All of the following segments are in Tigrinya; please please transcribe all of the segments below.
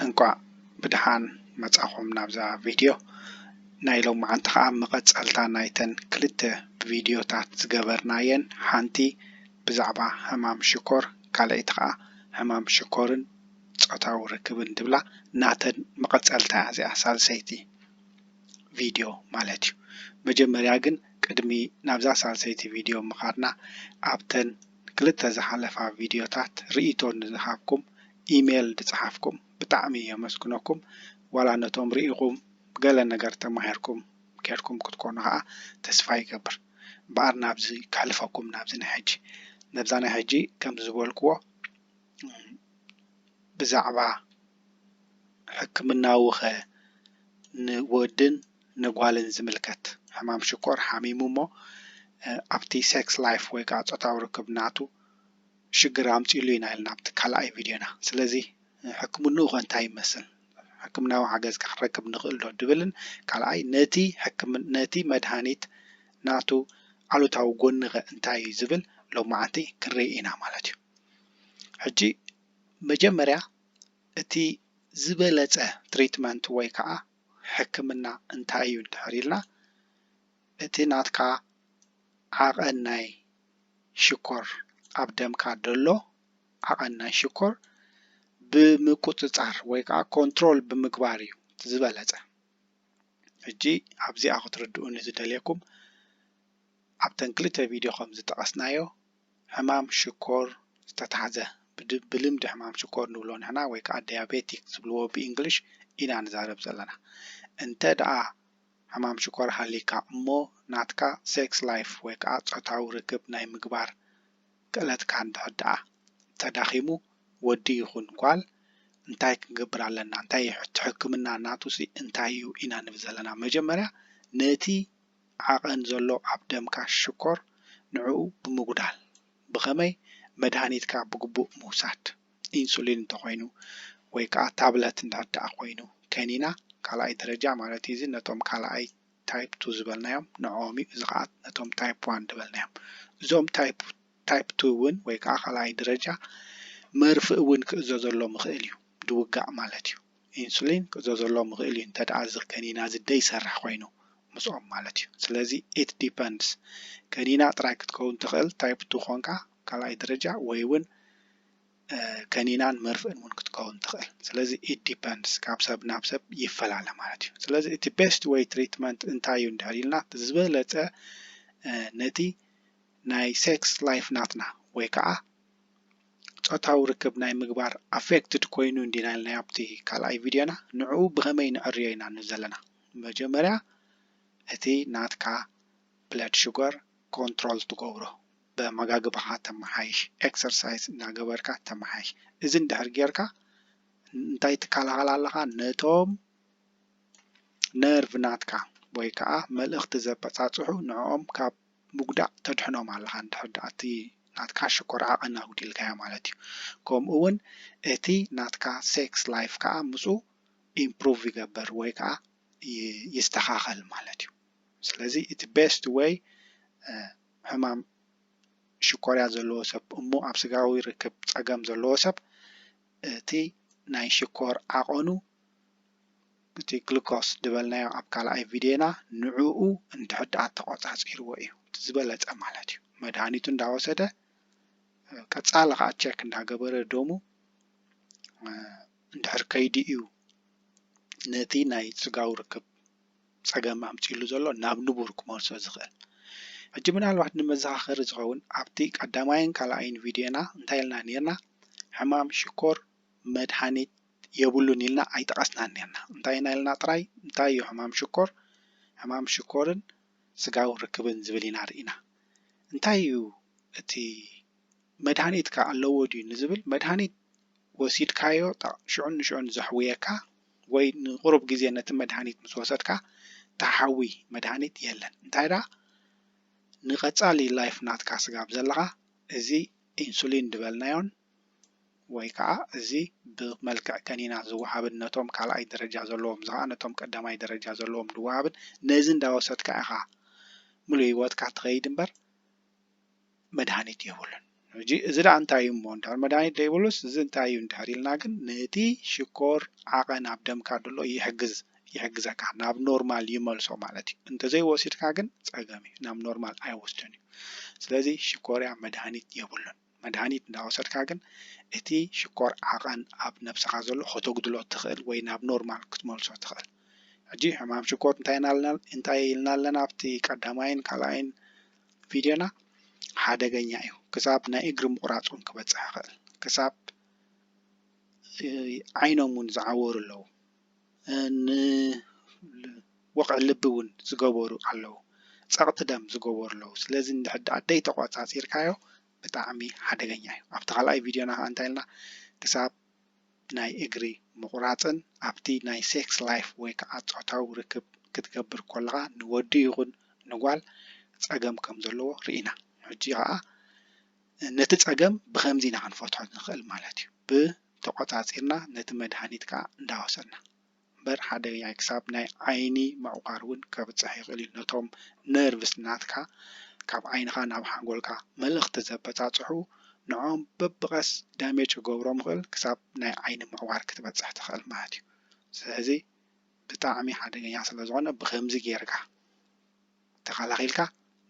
እንኳዕ ብድሓን መፃኹም ናብዛ ቪድዮ። ናይ ሎምዓንቲ ከዓ መቐፀልታ ናይተን ክልተ ቪድዮታት ዝገበርናየን ሓንቲ ብዛዕባ ሕማም ሽኮር ካልኣይቲ ከዓ ሕማም ሽኮርን ፆታዊ ርክብን ትብላ ናተን መቐፀልታ እያ እዚኣ ሳልሰይቲ ቪድዮ ማለት እዩ። መጀመርያ ግን ቅድሚ ናብዛ ሳልሰይቲ ቪድዮ ምኻድና ኣብተን ንክልተ ዝሓለፋ ቪድዮታት ርኢቶ ንዝሃብኩም ኢሜል ድጽሓፍኩም ብጣዕሚ የመስግነኩም ዋላ ነቶም ርኢኹም ገለ ነገር ተማሂርኩም ኬድኩም ክትኮኑ ከኣ ተስፋ ይገብር እምበኣር ናብዚ ከሕልፈኩም ናብዚ ናይ ሕጂ ነብዛ ናይ ሕጂ ከምዚ ዝበልክዎ ብዛዕባ ሕክምናዉኸ ንወድን ንጓልን ዝምልከት ሕማም ሽኮር ሓሚሙ እሞ ኣብቲ ሴክስ ላይፍ ወይ ከዓ ፆታዊ ርክብ ናቱ ሽግር ኣምፂእሉ ኢና ኢልና ኣብቲ ካልኣይ ቪድዮና ስለዚ ሕክምንኡ ከ እንታይ ይመስል ሕክምናዊ ሓገዝ ከ ክንረክብ ንኽእል ዶ ድብልን ካልኣይ ነቲ ሕክምና ነቲ መድሃኒት ናቱ ኣሉታዊ ጎኒ ከ እንታይ እዩ ዝብል ሎማዓንቲ ክንርኢ ኢና ማለት እዩ ሕጂ መጀመርያ እቲ ዝበለጸ ትሪትመንት ወይ ከዓ ሕክምና እንታይ እዩ እንድሕር ኢልና እቲ ናትካ ዓቐን ናይ ሽኮር ኣብ ደምካ ደሎ ዓቐን ናይ ሽኮር ብምቁጽጻር ወይ ከዓ ኮንትሮል ብምግባር እዩ ዝበለጸ። ሕጂ ኣብዚኣ ክትርድኡኒ ዝደልየኩም ኣብተን ክልተ ቪድዮ ከም ዝጠቐስናዮ ሕማም ሽኮር ዝተታሕዘ፣ ብልምዲ ሕማም ሽኮር ንብሎ ንሕና ወይ ከኣ ዲያቤቲክ ዝብልዎ ብእንግሊሽ ኢና ንዛረብ ዘለና። እንተ ደኣ ሕማም ሽኮር ሃልይካ እሞ ናትካ ሴክስ ላይፍ ወይ ከኣ ጾታዊ ርክብ ናይ ምግባር ክእለትካ እንድሕር ደኣ ተዳኺሙ ወዲ ይኹን ጓል እንታይ ክንገብር ኣለና እንታይ እቲ ሕክምና ናቱሲ እንታይ እዩ ኢና ንብል ዘለና መጀመርያ ነቲ ዓቐን ዘሎ ኣብ ደምካ ሽኮር ንዕኡ ብምጉዳል። ብኸመይ? መድሃኒትካ ብግቡእ ምውሳድ፣ ኢንሱሊን እንተኾይኑ ወይ ከኣ ታብለት እንተድኣ ኮይኑ፣ ከኒና ካልኣይ ደረጃ ማለት እዩ እዚ ነቶም ካልኣይ ታይፕ ቱ ዝበልናዮም ንዕኦም እዩ እዚ ከኣ ነቶም ታይፕ ዋን ዝበልናዮም እዞም ታይፕ ታይፕ ቱ እውን ወይ ከኣ ካልኣይ ደረጃ መርፍእ እውን ክእዘዘሎም ይኽእል እዩ ድውጋእ ማለት እዩ። ኢንሱሊን ክእዘዘሎም ይኽእል እዩ እንተድኣ እዚ ከኒና እዚ ደይሰርሕ ኮይኑ ምስኦም ማለት እዩ ስለዚ it depends ከኒና ጥራይ ክትከውን ትኽእል ታይፕ ቱ ኮንካ ካልኣይ ደረጃ ወይ እውን ከኒናን መርፍእን እውን ክትከውን ትኽእል ስለዚ it depends ካብ ሰብ ናብ ሰብ ይፈላለ ማለት እዩ ስለዚ እቲ ቤስት ወይ ትሪትመንት እንታይ እዩ እንድሕር ኢልና ዝበለፀ ነቲ ናይ ሴክስ ላይፍ ናትና ወይ ከዓ ጾታዊ ርክብ ናይ ምግባር ኣፌክትድ ኮይኑ እንዲና ኢልና ኣብቲ ካልኣይ ቪድዮና ንዕኡ ብኸመይ ንዕርዮ ኢና ንብል ዘለና መጀመርያ እቲ ናትካ ብለድ ሽጎር ኮንትሮል ትገብሮ በማጋግባኻ ተማሓይሽ ኤክሰርሳይዝ እናገበርካ ተማሓይሽ እዚ እንድሕር ጌርካ እንታይ ትከላኸል ኣለኻ ነቶም ነርቭ ናትካ ወይ ከዓ መልእኽቲ ዘበጻጽሑ ንዕኦም ካብ ምጉዳእ ተድሕኖም ኣለኻ እንድሕር ድኣ እቲ ናትካ ሽኮር ዓቐን ኣጉዲልካዮ ማለት እዩ ከምኡ ውን እቲ ናትካ ሴክስ ላይፍ ከኣ ምስኡ ኢምፕሩቭ ይገብር ወይ ከኣ ይስተኻኸል ማለት እዩ ስለዚ እቲ ቤስት ዌይ ሕማም ሽኮርያ ዘለዎ ሰብ እሞ ኣብ ስጋዊ ርክብ ጸገም ዘለዎ ሰብ እቲ ናይ ሽኮር ዓቐኑ እቲ ግሉኮስ ዝበልናዮ ኣብ ካልኣይ ቪድዮና ንዕኡ እንድሕር ደኣ ተቖጻጺርዎ እዩ እቲ ዝበለጸ ማለት እዩ። መድሃኒቱ እንዳወሰደ ቀጻሊ ከዓ ቸክ እንዳገበረ ደሙ እንድሕር ከይዱ እዩ ነቲ ናይ ስጋዊ ርክብ ጸገም ኣምጺእሉ ዘሎ ናብ ንቡር ክመልሶ ዝኽእል። ሕጂ ምናልባት ንመዘኻኸሪ ዝኸውን ኣብቲ ቀዳማይን ካልኣይን ቪድዮና እንታይ ኢልና ኔርና ሕማም ሽኮር መድሃኒት የብሉን ኢልና ኣይጠቐስናን ኔርና እንታይ ኢና ኢልና ጥራይ እንታይ እዩ ሕማም ሽኮር ሕማም ሽኮርን ስጋዊ ርክብን ዝብል ኢና ርኢና እንታይ እዩ እቲ መድሃኒትከ ኣለዎ ድዩ ንዝብል መድሃኒት ወሲድካዮ ሽዑን ንሽዑን ዘሕውየካ ወይ ንቑሩብ ግዜ ነቲ መድሃኒት ምስ ወሰድካ ተሓዊ መድሃኒት የለን። እንታይ ደኣ ንቐጻሊ ላይፍ ናትካ ስጋብ ዘለኻ እዚ ኢንሱሊን ዝበልናዮን ወይ ከዓ እዚ ብመልክዕ ከኒና ዝወሃብን ነቶም ካልኣይ ደረጃ ዘለዎም እዚ ከዓ ነቶም ቀዳማይ ደረጃ ዘለዎም ዝወሃብን ነዚ እንዳወሰድካ ኢኻ ምሉእ ህይወትካ ትኸይድ እምበር መድሃኒት የብሉን። ሕጂ እዚ ደኣ እንታይ እዩ እሞ እንድሕር መድሃኒት ዘይብሉስ እዚ እንታይ እዩ እንድሕር ኢልና ግን ነቲ ሽኮር ዓቐን ኣብ ደምካ ዘሎ ይሕግዝ ይሕግዘካ ናብ ኖርማል ይመልሶ ማለት እዩ እንተዘይወሲድካ ግን ጸገም እዩ ናብ ኖርማል ኣይወስድን እዩ ስለዚ ሽኮርያ መድሃኒት የብሉን መድሃኒት እንዳወሰድካ ግን እቲ ሽኮር ዓቐን ኣብ ነብስኻ ዘሎ ከተጉድሎ ትኽእል ወይ ናብ ኖርማል ክትመልሶ ትኽእል ሕጂ ሕማም ሽኮር እንታይ ኢልና ኣለና ኣብቲ ቀዳማይን ካልኣይን ቪድዮና ሓደገኛ እዩ ክሳብ ናይ እግሪ ምቑራፅ እውን ክበፅሕ ይኽእል ክሳብ ዓይኖም እውን ዝዓወሩ ኣለዉ ንወቕዒ ልቢ እውን ዝገበሩ ኣለዉ ፀቕጢ ደም ዝገበሩ ኣለዉ ስለዚ እንድሕር ደኣ ዘይተቖፃፂርካዮ ብጣዕሚ ሓደገኛ እዩ ኣብቲ ካልኣይ ቪድዮና ከዓ እንታይ ኢልና ክሳብ ናይ እግሪ ምቑራጽን ኣብቲ ናይ ሴክስ ላይፍ ወይ ከኣ ጾታዊ ርክብ ክትገብር ኮለኻ ንወዲ ይኹን ንጓል ጸገም ከም ዘለዎ ርኢና። ሕጂ ከኣ ነቲ ጸገም ብኸምዚ ኢና ክንፈትሖ ንኽእል ማለት እዩ። ብ ተቖጻጺርና ነቲ መድሃኒት ከኣ እንዳወሰድና። እምበር ሓደገኛ ክሳብ ናይ ዓይኒ ምዕቋር ውን ከብጽሕ ይኽእል እዩ ነቶም ነርቭስ ናትካ ካብ ዓይንኻ ናብ ሓንጎልካ መልእኽቲ ዘበጻጽሑ ንዖኦም በብቀስ ዳሜጅ ክገብሮም ይኽእል ክሳብ ናይ ዓይኒ ምዕቋር ክትበጽሕ ትኽእል ማለት እዩ ስለዚ ብጣዕሚ ሓደገኛ ስለዝኾነ ብኸምዚ ጌርካ ተኸላኺልካ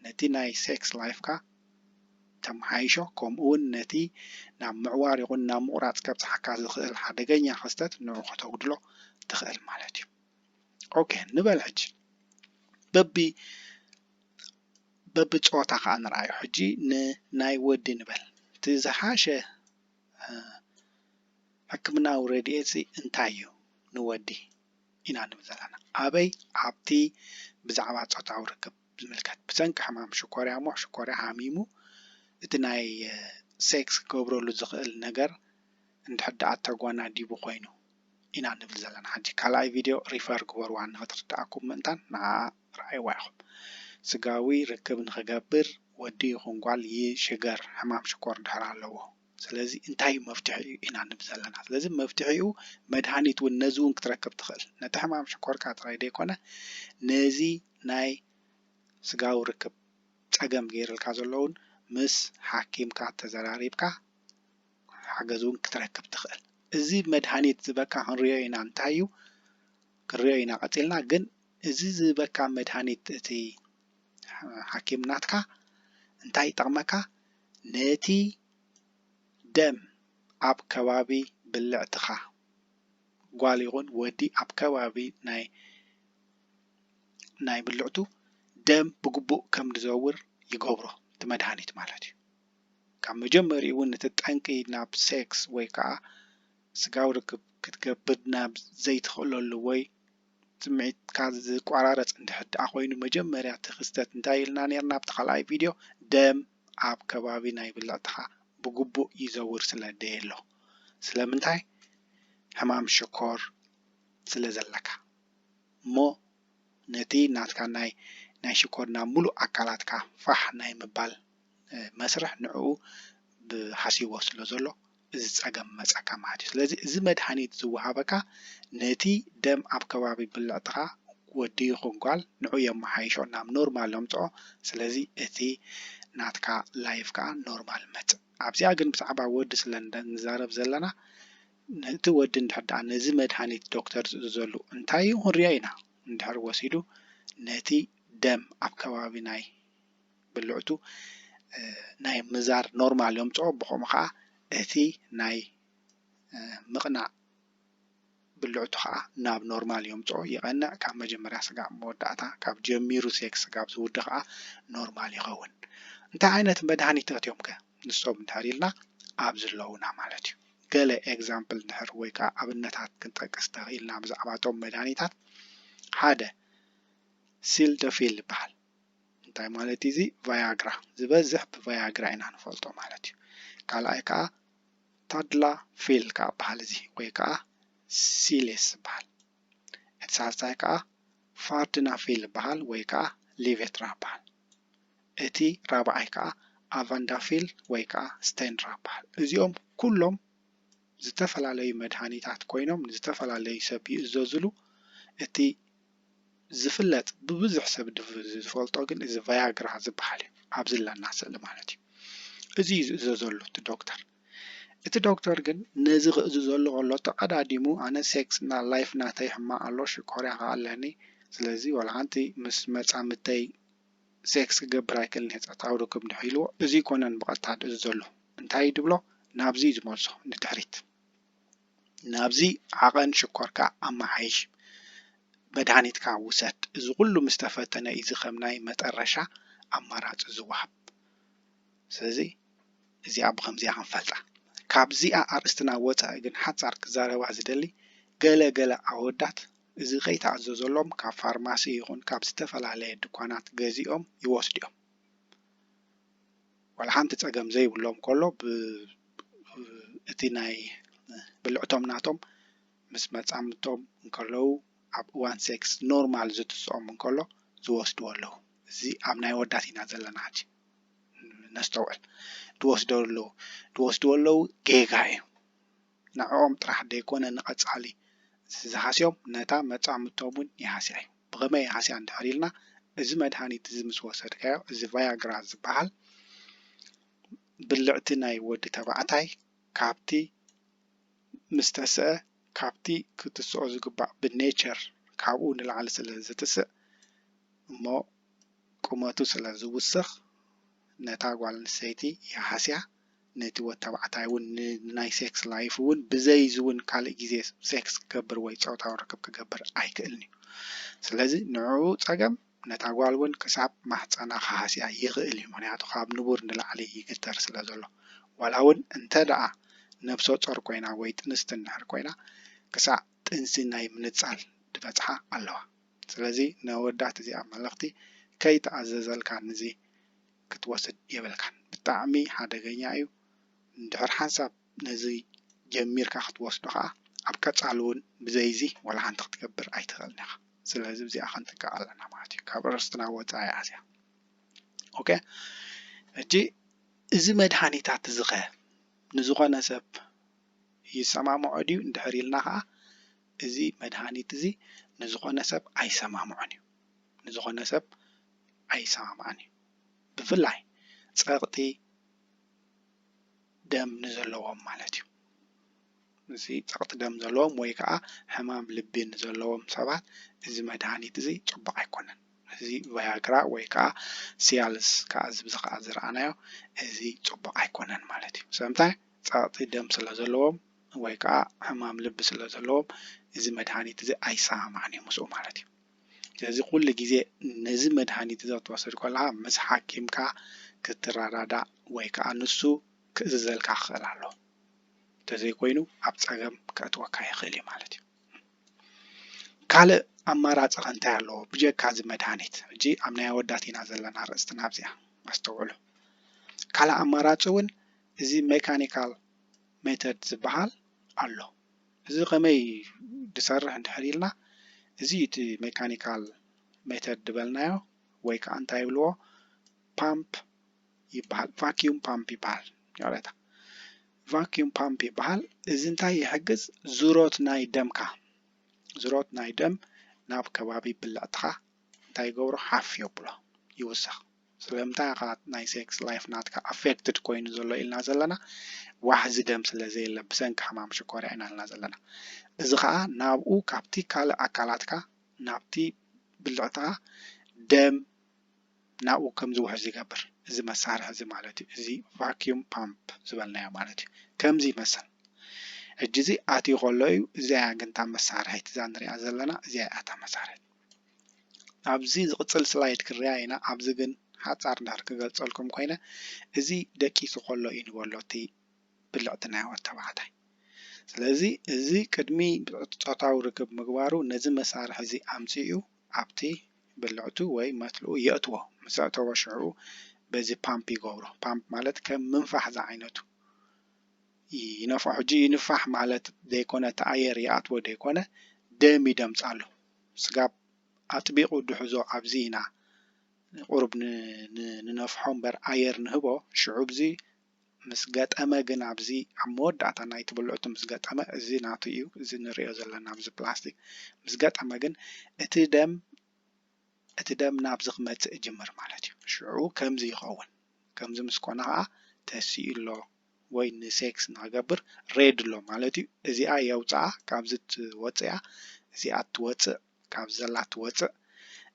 ነቲ ናይ ሴክስ ላይፍካ ተመሓይሾ ከምኡውን ነቲ ናብ ምዕዋር ይኹን ናብ ምቑራጽ ከብጽሓካ ዝኽእል ሓደገኛ ክስተት ንዑ ከተጉድሎ ትኽእል ማለት እዩ። ኦኬ ንበል ሕጂ በቢ በቢ ጾታ ከኣ ንርኣዮ ሕጂ ንናይ ወዲ ንበል እቲ ዝሓሸ ሕክምናዊ ረድኤት እንታይ እዩ ንወዲ? ኢና ንብል ዘለና። ኣበይ? ኣብቲ ብዛዕባ ጾታዊ ርክብ ዝምልከት ብሰንኪ ሕማም ሽኮርያ እሞ ሽኮርያ ሃሚሙ እቲ ናይ ሴክስ ክገብረሉ ዝኽእል ነገር እንድሕር ደኣ ተጓናዲቡ ኮይኑ ኢና ንብል ዘለና። ሕጂ ካልኣይ ቪድዮ ሪፈር ግበርዋ ንኽትርደኣኩም ምእንታን ንዓኣ ረኣይዋ ኢኹም። ስጋዊ ርክብ ንኽገብር ወዲ ይኹን ጓል ይሽገር ሕማም ሽኮር እንድሕር ኣለዎ። ስለዚ እንታይ እዩ መፍትሒኡ ኢና ንብ ዘለና ስለዚ መፍትሒኡ መድሃኒት እውን ነዚ እውን ክትረክብ ትኽእል ነቲ ሕማም ሽኮርካ ጥራይ ዘይኮነ ነዚ ናይ ስጋዊ ርክብ ፀገም ገይርልካ ዘሎ እውን ምስ ሓኪምካ ተዘራሪብካ ሓገዝ እውን ክትረክብ ትኽእል እዚ መድሃኒት ዝበካ ክንሪኦ ኢና እንታይ እዩ ክንሪኦ ኢና ቀፂልና ግን እዚ ዝበካ መድሃኒት እቲ ሓኪም ናትካ እንታይ ይጠቕመካ ነቲ ደም ኣብ ከባቢ ብልዕትኻ፣ ጓል ይኹን ወዲ ኣብ ከባቢ ናይ ናይ ብልዕቱ ደም ብግቡእ ከም ዝዘውር ይገብሮ እቲ መድሃኒት ማለት እዩ። ካብ መጀመሪኡ እውን እቲ ጠንቂ ናብ ሴክስ ወይ ከዓ ስጋዊ ርክብ ክትገብር ናብ ዘይትኽእለሉ ወይ ጽምዒትካ ዝቋራረጽ እንድሕር ደኣ ኮይኑ መጀመርያ እቲ ክስተት እንታይ ኢልና ኔርና ኣብቲ ካልኣይ ቪድዮ ደም ኣብ ከባቢ ናይ ብልዕትኻ ብግቡእ ይዘውር ስለ ደየሎ ስለምንታይ ሕማም ሽኮር ስለ ዘለካ እሞ ነቲ ናትካ ናይ ናይ ሽኮር ናብ ምሉእ ኣካላትካ ፋሕ ናይ ምባል መስርሕ ንዕኡ ብሓሲዎ ስለ ዘሎ እዚ ጸገም መጸካ ማለት እዩ። ስለዚ እዚ መድሃኒት ዝወሃበካ ነቲ ደም ኣብ ከባቢ ብልዕትካ ወዲ ይኩን ጓል ንዑ የመሓይሾ ናብ ኖርማል የምጽኦ ስለዚ እቲ ናትካ ላይፍ ከኣ ኖርማል ይመጽእ። ኣብዚኣ ግን ብዛዕባ ወዲ ስለ ንዛረብ ዘለና እቲ ወዲ እንድሕር ደኣ ነዚ መድሃኒት ዶክተር ዝእዝዘሉ እንታይ እዩ ክንሪኦ ኢና እንድሕር ወሲዱ ነቲ ደም ኣብ ከባቢ ናይ ብልዕቱ ናይ ምዛር ኖርማል የምፅኦ ብከምኡ ከዓ እቲ ናይ ምቕናዕ ብልዕቱ ከዓ ናብ ኖርማል የምፅኦ ይቐንዕ ካብ መጀመርያ ስጋብ መወዳእታ ካብ ጀሚሩ ሴክስ ስጋብ ዝውድ ከዓ ኖርማል ይኸውን እንታይ ዓይነት መድሃኒታት እዮም ከ ንሶም እንድሕር ኢልና ኣብዚ ኣለዉና ማለት እዩ ገለ ኤግዛምፕል እንድሕር ወይ ከዓ ኣብነታት ክንጠቅስ ተኽኢልና ብዛዕባ እቶም መድሃኒታት ሓደ ሲልደፊል ይበሃል እንታይ ማለት እዩ እዚ ቫያግራ ዝበዝሕ ብቫያግራ ኢና ንፈልጦ ማለት እዩ ካልኣይ ከዓ ታድላ ፌል ከዓ በሃል እዚ ወይ ከዓ ሲሌስ ዝበሃል እቲ ሳልሳይ ከዓ ፋርድና ፌል በሃል ወይ ከዓ ሊቬትራ በሃል እቲ ራብዓይ ከዓ ኣቫንዳፊል ወይ ከዓ ስቴንራ በሃል እዚኦም ኩሎም ዝተፈላለዩ መድሃኒታት ኮይኖም ንዝተፈላለዩ ሰብ ይእዘዝሉ እቲ ዝፍለጥ ብብዙሕ ሰብ ዝፈልጦ ግን እዚ ቫያግራ ዝበሃል እዩ ኣብዚ ዝለና ስእሊ ማለት እዩ እዚ እዩ ዝእዘዘሉ እቲ ዶክተር እቲ ዶክተር ግን ነዚ ክእዝዘሉ ከሎ ተቐዳዲሙ ኣነ ሴክስ እና ላይፍ ናተይ ሕማቕ ኣሎ ሽኮርያ ከዓ ኣለኒ ስለዚ ዋላ ሓንቲ ምስ መፃምድተይ ሴክስ ክገብር ኣይክእልን እየ ፆታዊ ርክብ እንድሕር ኢልዎ እዚ ኣይኮነን ብቐጥታ ዝእዝዘሉ እንታይ እዩ ዝብሎ ናብዚ እዩ ዝመልሶ ንድሕሪት ናብዚ ዓቐን ሽኮርካ ኣመሓይሽ መድሃኒትካ ውሰድ። እዚ ኩሉ ምስ ተፈተነ እዩ እዚ ከም ናይ መጠረሻ ኣማራጺ ዝወሃብ። ስለዚ እዚኣ ብኸምዚኣ ክንፈልጣ። ካብዚኣ ኣርእስትና ወጻኢ ግን ሓጻር ክዛረባ ዝደሊ ገለ ገለ ኣወዳት እዚ ከይተኣዘዘሎም ካብ ፋርማሲ ይኹን ካብ ዝተፈላለየ ድኳናት ገዚኦም ይወስዱ'ዮም። ዋላ ሓንቲ ፀገም ዘይብሎም ከሎ እቲ ናይ ብልዕቶም ናቶም ምስ መፃምድቶም እንከለዉ ኣብ እዋን ሴክስ ኖርማል ዝትስኦም እንከሎ ዝወስድዎ ኣለዉ እዚ ኣብ ናይ ወዳት ኢና ዘለና ሕጂ ነስተውዕል ድወስደሉ ድወስድዎ ኣለዉ ጌጋ እዩ ንዕኦም ጥራሕ ደይኮነ ንቐጻሊ ዝሃስዮም ነታ መጻምድቶም ውን ይሃስያ'ዩ። ብኸመይ ይሃስያ እንድሕር ኢልና እዚ መድሃኒት እዚ ምስ ወሰድካዮ እዚ ቫያግራ ዝበሃል ብልዕቲ ናይ ወዲ ተባዕታይ ካብቲ ምስ ተስኣ ካብቲ ክትስኦ ዝግባእ ብ'ኔቸር' ካብኡ ንላዕሊ ስለ ዝትስእ እሞ ቁመቱ ስለ ዝውስኽ ነታ ጓል ኣንስተይቲ ይሃስያ። ነቲ ወታባዕታይ ውን ንናይ ሴክስ ላይፉ ውን ብዘይ እዚ ውን ካልእ ግዜ ሴክስ ክገብር ወይ ጾታዊ ርክብ ክገብር ኣይክእልን እዩ ስለዚ ንዕኡ ጸገም ነታ ጓል ውን ክሳብ ማህጸና ክሃስያ ይኽእል እዩ ምኽንያቱ ካብ ንቡር ንላዕሊ ይግተር ስለ ዘሎ ዋላ ውን እንተ ደኣ ነብሰ ጾር ኮይና ወይ ጥንስቲ እንድሕር ኮይና ክሳዕ ጥንሲ ናይ ምንጻል ድበጽሓ ኣለዋ ስለዚ ነወዳት እዚኣ መልኽቲ ከይተኣዘዘልካ ንዚ ክትወስድ የብልካን ብጣዕሚ ሓደገኛ እዩ እንድሕር ሓንሳብ ነዚ ጀሚርካ ክትወስዶ ከኣ ኣብ ቀጻሊ ውን ብዘይዚ ዋላ ሓንቲ ክትገብር ኣይትኽእልን ኢኻ ስለዚ ብዚኣ ክንጥቀቕ ኣለና ማለት እዩ ካብ ርስትና ወጻኢ እያ እዚኣ ኦኬ ሕጂ እዚ መድሃኒታት እዚ ኸ ንዝኾነ ሰብ ይሰማምዖ ድዩ እንድሕር ኢልና ከኣ እዚ መድሃኒት እዚ ንዝኾነ ሰብ ኣይሰማምዖን እዩ ንዝኾነ ሰብ ኣይሰማማዕን እዩ። ብፍላይ ጸቕጢ ደም ንዘለዎም ማለት እዩ። እዚ ጸቕጢ ደም ዘለዎም ወይ ከዓ ሕማም ልቢ ንዘለዎም ሰባት እዚ መድሃኒት እዚ ፅቡቕ ኣይኮነን። እዚ ቫያግራ ወይ ከዓ ሲያልስ ከዓ እዚ ብዚ ከዓ ዝረኣናዮ እዚ ፅቡቕ ኣይኮነን ማለት እዩ። ስለምንታይ ጸቕጢ ደም ስለ ዘለዎም ወይ ከዓ ሕማም ልቢ ስለ ዘለዎም እዚ መድሃኒት እዚ ኣይሰማማዕን እዩ ምስኡ ማለት እዩ። ስለዚ ኩሉ ግዜ ነዚ መድሃኒት እዚ ክትወስድ ከለኻ ምስ ሓኪምካ ክትረዳዳእ ወይ ከኣ ንሱ ክእዝዘልካ ክኽእል ኣለዎ። እንተዘይኮይኑ ኣብ ጸገም ከእትወካ ይኽእል እዩ ማለት እዩ። ካልእ ኣማራጺ ከ እንታይ ኣለዎ ብጀካ እዚ መድሃኒት? ሕጂ ኣብ ናይ ኣወዳት ኢና ዘለና ርእስትና ኣብዚኣ ኣስተውዕሉ። ካልእ ኣማራጺ እውን እዚ ሜካኒካል ሜተድ ዝበሃል ኣሎ። እዚ ከመይ ድሰርሕ እንድሕር ኢልና እዚ እዩ እቲ ሜካኒካል ሜተድ ድበልናዮ ወይ ከዓ እንታይ ይብልዎ ፓምፕ ይበሃል ቫኪዩም ፓምፕ ይበሃል ይቕሬታ ቫኪዩም ፓምፕ ይበሃል እዚ እንታይ ይሕግዝ ዙሮት ናይ ደምካ ዙሮት ናይ ደም ናብ ከባቢ ብልዕትኻ እንታይ ይገብሮ ሓፍ የብሎ ይውስኽ ስለምንታይ ኢኻ ናይ ሴክስ ላይፍ ናትካ ኣፌክትድ ኮይኑ ዘሎ ኢልና ዘለና ዋሕዚ ደም ስለ ዘየለ ብሰንኪ ሕማም ሽኮርያ ኢና ኢልና ዘለና እዚ ኸኣ ናብኡ ካብቲ ካልእ ኣካላትካ ናብቲ ብልዕትኻ ደም ናብኡ ከም ዝውሕዝ ይገብር እዚ መሳርሒ እዚ ማለት እዩ እዚ ቫክዩም ፓምፕ ዝበልናዮ ማለት እዩ ከምዚ ይመስል ሕጂ እዚ ኣትዩ ከሎ እዩ እዚኣ ግን እታ መሳርሒት እዛ ንሪኣ ዘለና እዚኣ እያ እታ መሳርሒት ኣብዚ ዝቅጽል ስላይድ ክርኣ ኢና ኣብዚ ግን ሓጻር እንድሕር ክገልጸልኩም ኮይነ እዚ ደቂሱ ከሎ እዩ ንበሎ እቲ ብልዕቲ ናይ ወድ ተባዕታይ ስለዚ እዚ ቅድሚ ጾታዊ ርክብ ምግባሩ ነዚ መሳርሒ እዚ ኣምጺኡ ኣብቲ ብልዕቱ ወይ መትልኡ የእትዎ ምስ ኣእተዎ ሽዑ በዚ ፓምፕ ይገብሮ ፓምፕ ማለት ከም ምንፋሕ ዝዓይነቱ ይነፍሖ ሕጂ ይንፋሕ ማለት ዘይኮነ እቲ ኣየር ይኣትዎ ዘይኮነ ደም ይደምጻሉ ስጋብ ኣጥቢቑ ድሕዞ ኣብዚ ኢና ቁሩብ ንነፍሖ እምበር ኣየር ንህቦ ሽዑ እዚ ምስ ገጠመ ግን ኣብዚ ኣብ መወዳእታ ናይቲ ብልዕቱ ምስ ገጠመ እዚ ናቱ እዩ እዚ ንሪኦ ዘለና ኣብዚ ፕላስቲክ ምስ ገጠመ ግን እቲ ደም እቲ ደም ናብዚ ክመጽእ ይጅምር ማለት እዩ ሽዑ ከምዚ ይኸውን ከምዚ ምስ ኮነ ኸኣ ተሲኡ ኣሎ ወይ ን ሴክስ ንክገብር ሬድ ኣሎ ማለት እዩ እዚኣ የውጽኣ ካብዚ ትወጽእያ እዚኣ ትወጽእ ካብዚ ዘላ ትወጽእ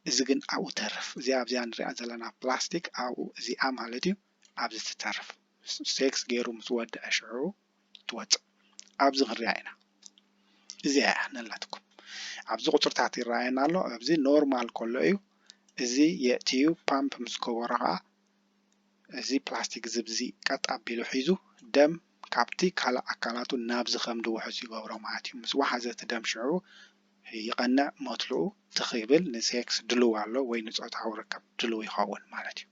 እዚ ግን ኣብኡ ተርፍ እዚኣ ኣብዚኣ ንሪኣ ዘለና ፕላስቲክ ኣብኡ እዚኣ ማለት እዩ ኣብዚ ትተርፍ ሴክስ ገይሩ ምስ ወድኣ ሽዑ ትወጽእ ኣብዚ ክንሪኣ ኢና እዚኣ እያ ነላትኩም ኣብዚ ቁጽርታት ይረኣየና ኣሎ ኣብዚ ኖርማል ከሎ እዩ እዚ የእትዩ ፓምፕ ምስ ገበሮ ከዓ እዚ ፕላስቲክ ዝብዚ ቀጥ ኣቢሉ ሒዙ ደም ካብቲ ካልእ ኣካላቱ ናብዚ ከምዲ ውሑስ ይገብሮ ማለት እዩ። ምስ ወሓዘ እቲ ደም ሽዑ ይቐንዕ ሞትልኡ ትኽ ይብል ንሴክስ ድሉው ኣሎ ወይ ንጾታዊ ርክብ ድሉው ይኸውን ማለት እዩ።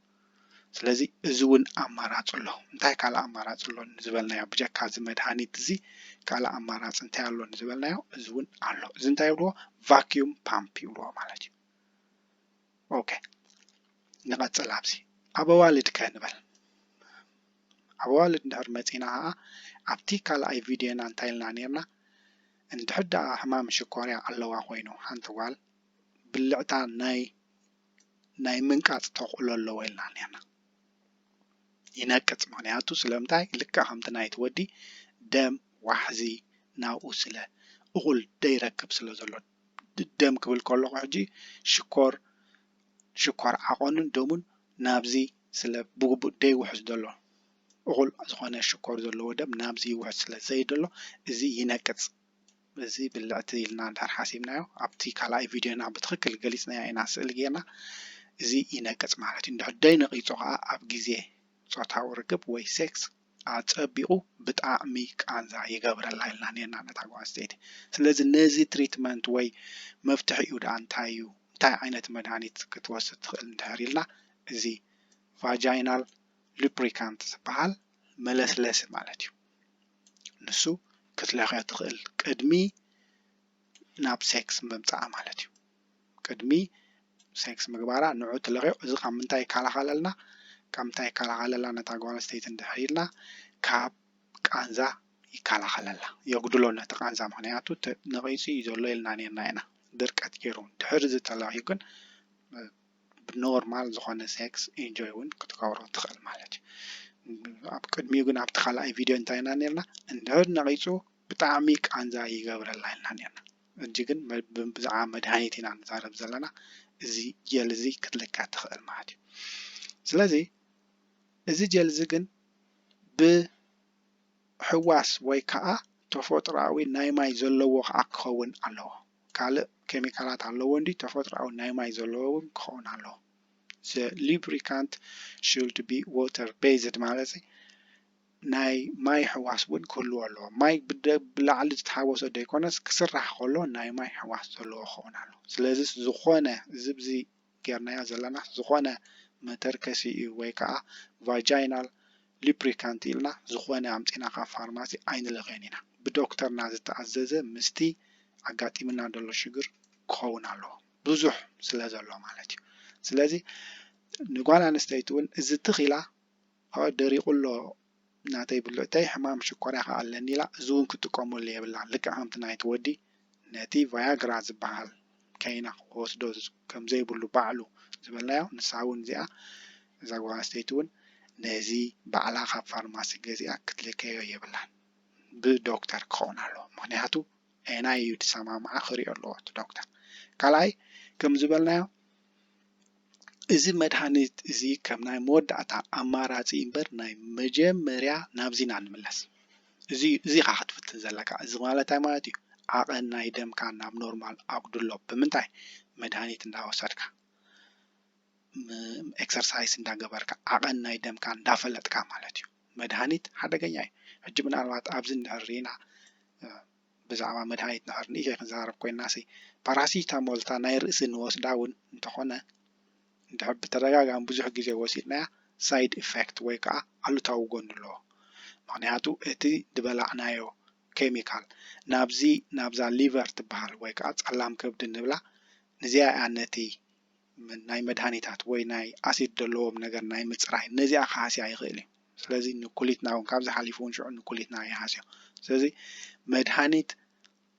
ስለዚ እዚ እውን ኣማራጺ ኣሎ። እንታይ ካልእ ኣማራጺ ኣሎ ዝበልናዮ ብጀካ እዚ መድሃኒት እዚ ካልእ ኣማራጺ እንታይ ኣሎ ዝበልናዮ እዚ እውን ኣሎ። እዚ እንታይ ይብልዎ ቫክዩም ፓምፕ ይብልዎ ማለት እዩ። ኦከ ንቐፅል ኣብዚ ኣብ ኣዋልድ ከ ንበል ኣብ ኣዋልድ እንድሕር መፂና ከዓ ኣብቲ ካልኣይ ቪድዮና እንታይ ኢልና ነርና እንድሕር ደኣ ሕማም ሽኮርያ ኣለዋ ኮይኑ ሓንቲ ጓል ብልዕታ ናይ ናይ ምንቃፅ ተኽእሎ ኣለዎ ኢልና ነርና ይነቅፅ ምክንያቱ ስለምንታይ ልካ ከምቲ ናይቲ ወዲ ደም ዋሕዚ ናብኡ ስለ እኹል ደይረክብ ስለ ዘሎ ደም ክብል ከለኹ ሕጂ ሽኮር ሽኳር ዓቐኑን ደሙን ናብዚ ስለ ብግቡእ ደይውሕዝ ዘሎ እኹል ዝኾነ ሽኮር ዘለዎ ደም ናብዚ ይውሕዝ ስለ ዘይደሎ እዚ ይነቅጽ እዚ ብልዕቲ ኢልና እንድሕር ሓሲብናዮ ኣብቲ ካልኣይ ቪድዮና ብትኽክል ገሊጽናዮ ኢና ስእሊ ጌርና እዚ ይነቅጽ ማለት እዩ እንድሕር ደይነቒጹ ከዓ ኣብ ግዜ ጾታዊ ርክብ ወይ ሴክስ ኣጸቢቑ ብጣዕሚ ቃንዛ ይገብረላ ኢልና ኔርና ነታ ጓል ኣንስተይቲ። ስለዚ ነዚ ትሪትመንት ወይ መፍትሒኡ ደኣ እንታይ እዩ፣ እንታይ ዓይነት መድሃኒት ክትወስድ ትኽእል እንድሕር ኢልና፣ እዚ ቫጃይናል ሉፕሪካንት ዝበሃል መለስለሲ ማለት እዩ፣ ንሱ ክትለኽዮ ትኽእል ቅድሚ ናብ ሴክስ ምምጻኣ ማለት እዩ። ቅድሚ ሴክስ ምግባራ ንዑ ትለኽዮ እዚ ካብ ምንታይ ይከላኸለልና ካብ ምንታይ ይከላኸለላ ነታ ጓል ኣንስተይቲ እንድሕር ኢልና ካብ ቃንዛ ይከላኸለላ የጉድሎ ነቲ ቃንዛ ምክንያቱ ነቒጹ እዩ ዘሎ ኢልና ኔርና ኢና ድርቀት ገይሩ ድሕሪ እዚ ተለኽዩ ግን ብኖርማል ዝኾነ ሴክስ ኢንጆይ እውን ክትገብሮ ትኽእል ማለት እዩ ኣብ ቅድሚኡ ግን ኣብቲ ካልኣይ ቪድዮ እንታይ ኢና ነርና እንድሕር ነቒፁ ብጣዕሚ ቃንዛ ይገብረላ ኢልና ነርና ሕጂ ግን ብዛዕባ መድሃኒት ኢና ንዛረብ ዘለና እዚ ጀል እዚ ክትልካ ትክእል ማለት እዩ ስለዚ እዚ ጀል እዚ ግን ብሕዋስ ወይ ከዓ ተፎጥራኣዊ ናይ ማይ ዘለዎ ከዓ ክኸውን ኣለዎ ካልእ ኬሚካላት ኣለዎ እንዲ ተፎጥራኣዊ ናይ ማይ ዘለዎ እውን ክኸውን ኣለዎ ዘ ሊብሪካንት ሹልድ ቢ ወተር ቤዝድ ማለት ናይ ማይ ሕዋስ እውን ክህልዎ ኣለዎ። ማይ ብላዕሊ ዝተሓወሶ ዘይኮነስ ክስራሕ ከሎ ናይ ማይ ሕዋስ ዘለዎ ክኸውን ኣለዎ። ስለዚ ዝኾነ እዚ ብዚ ጌርናዮ ዘለና ዝኾነ መተርከሲ እዩ ወይ ከዓ ቫጃይናል ሊፕሪካንት ኢልና ዝኾነ ኣምፂና ካብ ፋርማሲ ኣይንልእኸዮን ኢና። ብዶክተርና ዝተኣዘዘ ምስቲ ኣጋጢምና ዘሎ ሽግር ክኸውን ኣለዎ። ብዙሕ ስለ ዘሎ ማለት እዩ። ስለዚ ንጓል ኣንስተይቲ እውን እዚ ትኽ ኢላ ኣወ ደሪቁ ኣሎ ናተይ ብልዕተይ ሕማም ሽኮርያ ከኣ ኣለኒ ኢላ እዚ ውን ክትጥቀመሉ የብላን ልክዕ ከምቲ ናይቲ ወዲ ነቲ ቫያግራ ዝብሃል ከይና ክወስዶ ከምዘይብሉ ባዕሉ ዝበልናዮ ንሳ ውን እዚኣ እዛ ጓል ኣንስተይቲ ውን ነዚ ባዕላ ካብ ፋርማሲ ገዚኣ ክትልከዮ የብላን ብ ዶክተር ክኸውን ኣለዎ ምኽንያቱ ኣየናይ እዩ ዝሰማምዓ ክሪኦ ኣለዎ እቲ ዶክተር ካልኣይ ከምዝበልናዮ እዚ መድሃኒት እዚ ከም ናይ መወዳእታ ኣማራጺ እምበር ናይ መጀመርያ ናብዚ ኢና እንምለስ እዚ እዚ ኢኻ ክትፍትን ዘለካ እዚ ማለት እንታይ ማለት እዩ ዓቐን ናይ ደምካ ናብ ኖርማል ኣጉድሎ ብምንታይ መድሃኒት እንዳወሰድካ ኤክሰርሳይስ እንዳገበርካ ዓቐን ናይ ደምካ እንዳፈለጥካ ማለት እዩ መድሃኒት ሓደገኛ እዩ ሕጂ ምናልባት ኣብዚ እንድሕር ሪኢና ብዛዕባ መድሃኒት እንድሕር ንእሽተይ ክንዛረብ ኮይንናሲ ፓራሲታሞል እታ ናይ ርእሲ እንወስዳ እውን እንተኾነ እንድሕር ብተደጋጋሚ ብዙሕ ግዜ ወሲድናያ ሳይድ ኢፌክት ወይ ከዓ ኣሉታዊ ጎኒ ኣለዎ። ምኽንያቱ እቲ ዝበላዕናዮ ኬሚካል ናብዚ ናብዛ ሊቨር ትበሃል ወይ ከዓ ፀላም ከብዲ ንብላ ንዚኣ እያ ነቲ ናይ መድሃኒታት ወይ ናይ ኣሲድ ደለዎም ነገር ናይ ምጽራይ ነዚኣ ክሃስያ ይኽእል እዩ። ስለዚ ንኩሊትና እውን ካብዚ ሓሊፉ እውን ሽዑ ንኩሊትና ይሃስዮ። ስለዚ መድሃኒት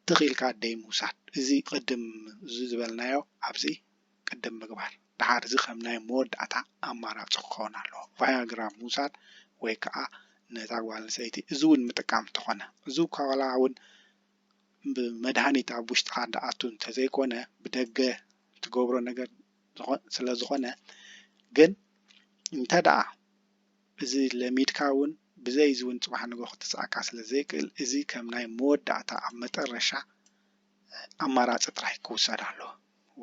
ትኽ ኢልካ ደይምውሳድ እዚ ቅድም እዚ ዝበልናዮ ኣብዚ ቅድም ምግባር ደሓር እዚ ከም ናይ መወዳእታ ኣማራጺ ክኸውን ኣለዎ። ቫያግራ ምውሳድ ወይ ከዓ ነታ ጓል ኣንስተይቲ እዚ እውን ምጥቃም እንተኾነ እዚ እኳ ዋላ እውን ብመድሃኒት ኣብ ውሽጥኻ ደኣቱ እንተዘይኮነ ብደገ ትገብሮ ነገር ስለ ዝኾነ ግን እንተ ደኣ እዚ ለሚድካ ውን ብዘይ እዚ ውን ጽባሕ ንግሆ ክትስኣካ ስለ ዘይክእል እዚ ከም ናይ መወዳእታ ኣብ መጠረሻ ኣማራጺ ጥራይ ክውሰድ ኣለዎ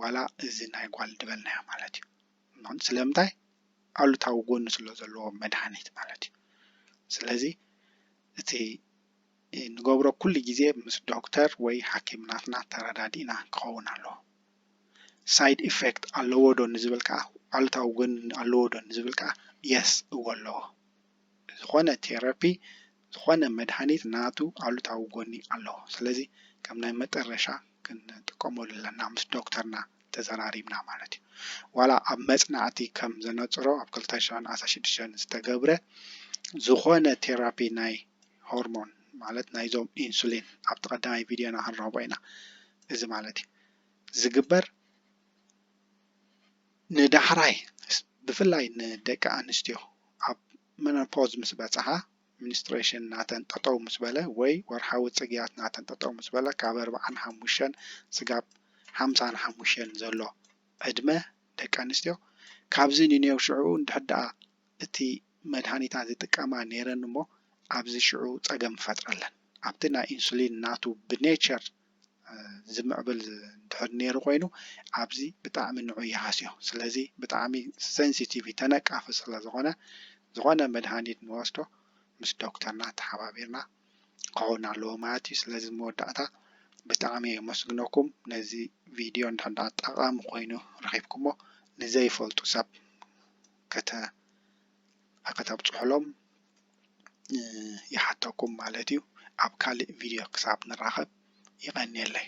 ዋላ እዚ ናይ ጓል ድበልናዮ ማለት እዩ ምኽንያቱ ስለምንታይ ኣሉታዊ ጎኒ ስለ ዘለዎ መድሃኒት ማለት እዩ ስለዚ እቲ እንገብሮ ኩሉ ግዜ ምስ ዶክተር ወይ ሓኪም ናትና ተረዳዲእና ክኸውን ኣለዎ። Side effect ኣለዎ ዶ ንዝብል ከኣ ኣሉታዊ ጎኒ ኣለዎ ዶ ንዝብል ከኣ Yes እወ ኣለዎ። ዝኾነ Therapy ዝኾነ መድሃኒት ናቱ ኣሉታዊ ጎኒ ኣለዎ። ስለዚ ከም ናይ መጠረሻ ክንጥቀመሉ ኣለና ምስ ዶክተርና ተዘራሪብና ማለት እዩ። ዋላ ኣብ መፅናዕቲ ከም ዘነፅሮ ኣብ ክልተ ሽሕን ዓሰርተ ሽዱሽተን ዝተገብረ ዝኾነ ቴራፒ ናይ ሆርሞን ማለት ናይዞም ኢንሱሊን ኣብቲ ቀዳማይ ቪድዮና ክንረኽቦ ኢና እዚ ማለት እዩ ዝግበር ንዳሕራይ ብፍላይ ንደቂ ኣንስትዮ ኣብ መኖፖዝ ምስ በፅሓ ሚኒስትሬሽን ናተን ጠጠው ምስ በለ ወይ ወርሓዊ ፅግያት ናተን ጠጠው ምስ በለ ካብ ኣርብዓን ሓሙሽተን ስጋብ ሓምሳን ሓሙሽተን ዘሎ ዕድመ ደቂ ኣንስትዮ ካብዚ ንኔው ሽዕኡ እንድሕር ደኣ እቲ መድሃኒታት ዝጥቀማ ነይረን እሞ ኣብዚ ሽዑ ፀገም ይፈጥረለን ኣብቲ ናይ ኢንሱሊን ናቱ ብኔቸር ዝምዕብል እንድሕር ነይሩ ኮይኑ ኣብዚ ብጣዕሚ ንዑ ይሃስዮ ስለዚ ብጣዕሚ ሰንሲቲቭ እዩ ተነቃፊ ስለ ዝኾነ ዝኾነ መድሃኒት ንወስዶ ምስ ዶክተርና ተሓባቢርና ክኸውን ኣለዎ ማለት እዩ ስለዚ መወዳእታ ብጣዕሚ የመስግነኩም ነዚ ቪድዮ እንድሕር ደኣ ጠቓሚ ኮይኑ ረኺብኩሞ ንዘይፈልጡ ሰብ ከተብፅሑሎም ይሓተኩም ማለት እዩ ኣብ ካልእ ቪድዮ ክሳብ ንራኸብ ይቀንየለይ።